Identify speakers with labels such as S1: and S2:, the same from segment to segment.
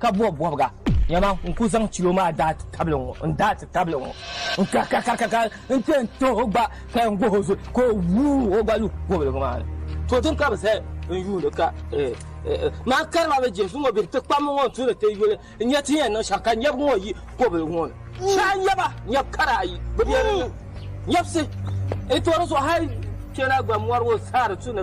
S1: ka bɔbi bɔbiga. Nyama, n ku zaŋ chilo maa daa ti tabili ŋɔ, n daa ti tabili ŋɔ, n karikarikarikar n ti yɛn tuhi o gba ka yɛn gohi o zuɣu ka o wuui o gba lu kɔbiliga maa ni. To din ka bi zali n yuuni ka maa kari maa bɛ Jesu ŋɔ bihi ti kpam ŋɔ n tuhi ti yuli n nya ti ni yɛn niŋ shɛm ka nyɛbu ŋɔ yi kɔbiliga ŋɔ ni. Shɛhi nyɛba, nyɛbu kara ayi bi be di ni. Nyɛbisi, n tooi di zuɣu hal kpɛna gba mɔri ŋɔ saha di tu ni.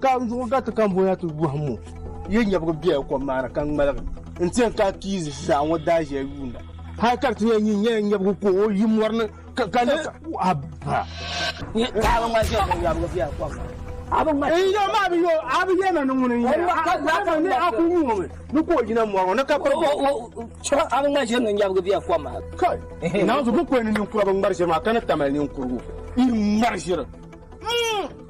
S2: Ka n zuɣu gariti ka n boya ti wɔhim o, yi nyɛbigu bela kom maa ni ka ŋmaligi n-ti yɛn kana ti yi ʒiʒiɛɣu ŋɔ daaʒiya yuunda, hal ka di ti yɛn nyu nyɛla nyɛbigu ka o yi mɔri ni ka ni aba. Kai,
S1: naanzu
S2: bi kɔhi ni ninkura bi ŋmari ʒiri maa ka ni ta mali ninkurugu, yi ŋmari ʒiri.